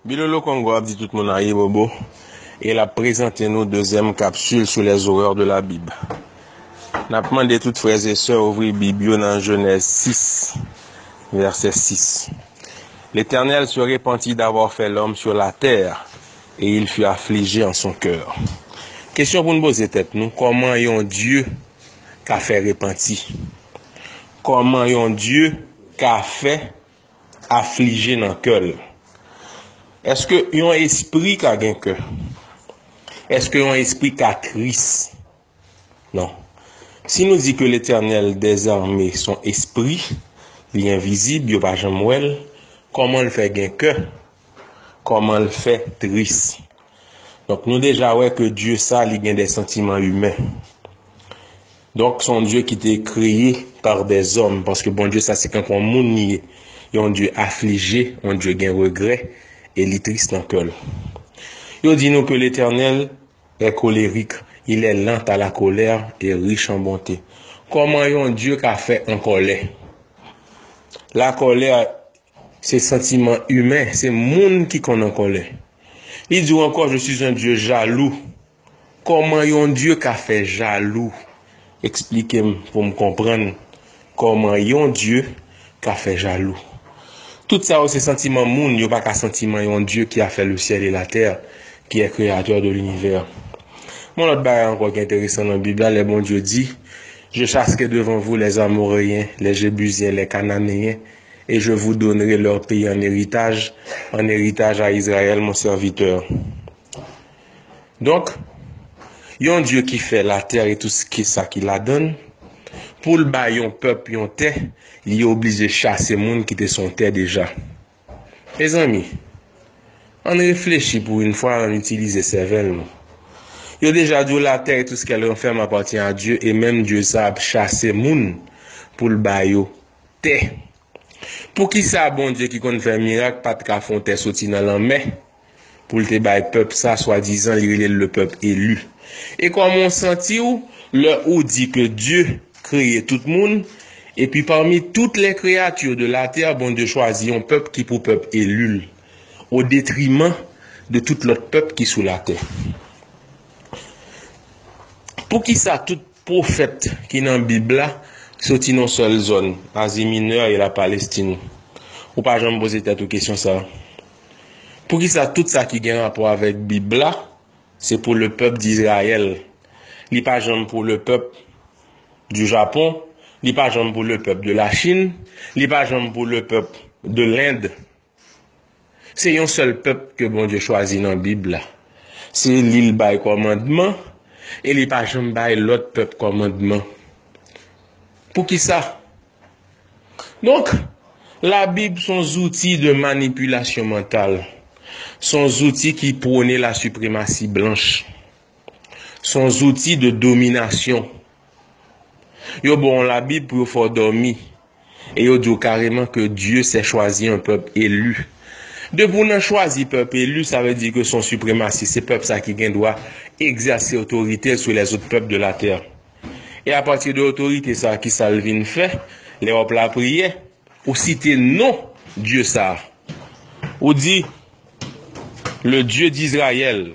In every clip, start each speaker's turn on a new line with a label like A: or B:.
A: Bilolo Kongo ap di tout moun ayibobo e l ap prezante nou dezyèm kapsul sou lè zorèr de la Bib. N ap mande tout frèzesè ouvri Bib yo nan Jenèz 6, vèsè 6, Letènèl se repanti davwa fè lòm sur latè e il fut aflije an son kèr. Kesyon pou n poze tèt nou, kòman yon Dye ka fè repanti? Kòman yon Dye ka fè aflije nan kè l? Èske yon espri ka gen kè? Èske yon espri ka tris? Non. Si nou di ke Letènèl dezame son espri, li envizib, yo pa janm wè l, kòman l fè gen kè? Koman l fè tris. Donk nou deja wè ke Dye sa li gen de santiman imen. Donk son Dye ki te kreye par de zòm. Paske Bondye sa se tankou yon moun li ye. Yon Dye aflije, yon Dye gen regrè, e li tris nan kè l. Yo di nou ke Letènèl è kolerik, il è lant a la kolè e rich an bonte. Koman yon Dye ka fè an kòlè? La kolè Se santiman imen, se moun ki konn an kòlè. Li di w ankò, je suis un Dieu jaloux. Kòman yon Dye ka fè jalou? Eksplike m pou m konprann kòman yon Dye ka fè jalou. Tout sa yo se santiman moun, yo pa ka santiman yon Dye ki a fè le syèl e la tè, ki è kreyatè de linivè. Yon lòt bagay ankò ki enteresan nan Bib la, lè Bondye di, Je chaske devan vou lè Amoreyyen, lè Jebizyen, lè Kananeyen, Et je vous donnerai leur pays en héritage, en héritage à Israël, mon serviteur. Donk, yon Dye ki fè latè e tout sa ki ladan l, pou l bay yon pèp yon tè, li oblije chase moun ki te sou yon tè deja. Mezanmi, ann reflechi pou yon fwa, ann itilize sèvèl nou. Yo deja di w latè e tout s kèl ranfèm apatyen a Dye e menm Dye sa ap chase moun pou l ba yo. Tè. Poukisa Bondye ki konn fè mirak pa t ka fè yon tè soti nan lanmè pou l te bay pèp sa swadizan li rele l lepèp eli? E kòman w santi w lè ou di ke Dye kreye tout moun epi pami toutes les créatures de la terre Bondye chwazi yon pèp ki pou pèp eli l o detriman de tout lòt pèp ki sou latè? Poukisa tout Pwofèt ki nan Bib la soti nan yon sèl zòn, Azi Minè e Lapalestin. Ou pa janm poze tèt ou kesyon sa a? Poukisa tout sa ki gen rapò avèk Bib la se pou lepèp Dizrayèl? Li pa janm pou lepèp du Japon, li pa janm pou lepèp de Lachin, li pa janm pou lepèp de Lend. Se yon sèl pèp ke Bondye chwazi nan Bib la. Se li l bay kòmandman e li pa janm bay lòt pèp kòmandman. Poukisa? Donk, Labib s on zouti de manipilasyon mantal. S on zouti ki pwone lasipremasi blanch. Son zouti de dominasyon. Yo ba w yon labib pou yo fè w dòmi. E yo di w kareman ke Dye sè chwazi yon pèp elu. Depi w nan chwazi pèp elu, sa vle di ke son sipremasi. Se pèp sa ki gen dwa egzèse otorite l sou lèzot pèp de latè. E apati de otorite sa, ki sa l vin fè? Lè w ap lapriyè, ou site non Dye sa. Ou di, Le Dye d'Izrayèl.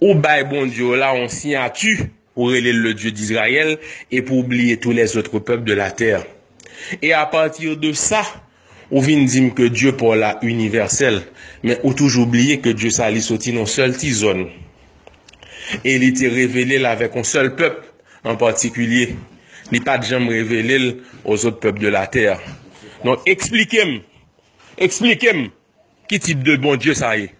A: Ou bay Bondye w la yon siyati, ou rele l le Dieu d'Israël, epi w bliye tous les autres peuples de la terre. E a partir de sa, ou vin di m ke Dye pa w la inivèsèl, men ou toujou bliye ke Dye sa li soti nan yon sèl ti zòn, e li te revele l avèk yon sèl pèp an patikilye, li pa t janm revele l aux autres peuples de la terre. Donk eksplike m, eksplike m ki tip de Bondye sa ye?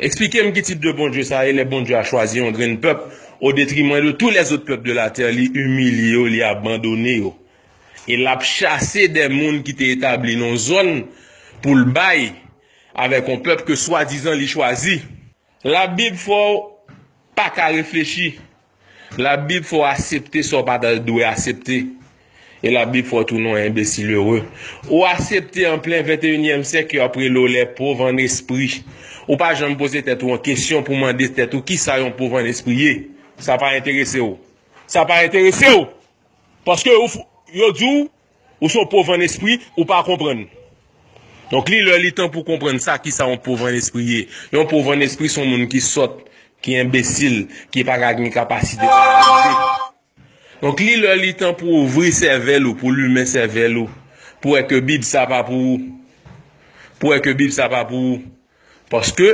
A: Eksplikem ki tip de Bondye sa ye lè Bondye a chwazi yon grenn pèp o detrimwen de tou lè zot pèp de la tè li imilye yo li abandone yo e lap chase dè moun ki te etabli non zòn poul bay avèk yon pèp ke swadizan li chwazi la bib fòw paka reflechi. Labib fè w asepte sa w pa ta dwe asepte, e Labib fè w tounen yon enbesil ere. Ou asepte an plen venteyinyèm syèk ke yo ap rele w lè pov ann espri. Ou pa janm poze tèt ou an kesyon pou mande tèt ou kisa yon pov ann espri ye. Sa pa enterese w. Sa pa enterese w! Paske yo di w Ou son pov an espri, ou pa konprann. Donk li lè li tan pou konprann sa kisa yon pov an espri ye. Yon pov an espri son moun ki sòt, ki enbesil, ki pa ka gen kapasite pou analize. Donk li lè li tan pou ouvri sèvèl ou, pou limen sèvèl ou, pou wè ke bib sa pa pou ou. Pou wè ke bib sa pa pou ou. Paske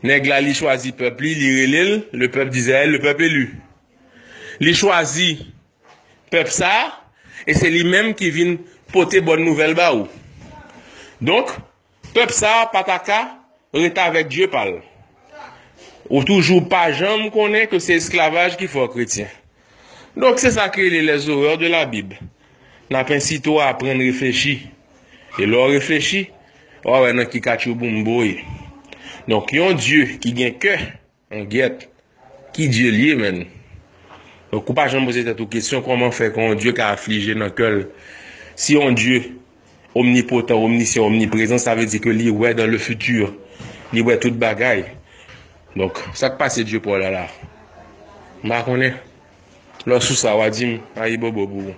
A: nèg la li chwazi pèp li, li rele l, le pèp d'Israël, le pèp élu. Li chwazi Pèp sa a, e se li menm ki vin pote bòn nouvèl ba ou. Donk, pèp sa a pa ta ka ret avèk dye pa l. Ou toujou pa janm konnen ke se esklavaj ki fè w kretyen. Donk, se sa ki rele les horreurs de la Bible. N ap ensite w aprann reflechi. E lè w reflechi, w a wè nan ki katchouboumbo w ye. Donk, yon dye ki gen kè. An gyèt ki Dye l ye menn? Donk ou pa janm poze tèt ou kesyon kòman fè ke yon Dye ka aflije nan kè l? Si yon Dye omnipotan, omnisyan, omniprezan sa vle di ke li wè dan le futur, li wè tout bagay. Donk sak pase Dye pa w la la? M pa konnen. Lè w sou sa wa di m ayibobo pou ou.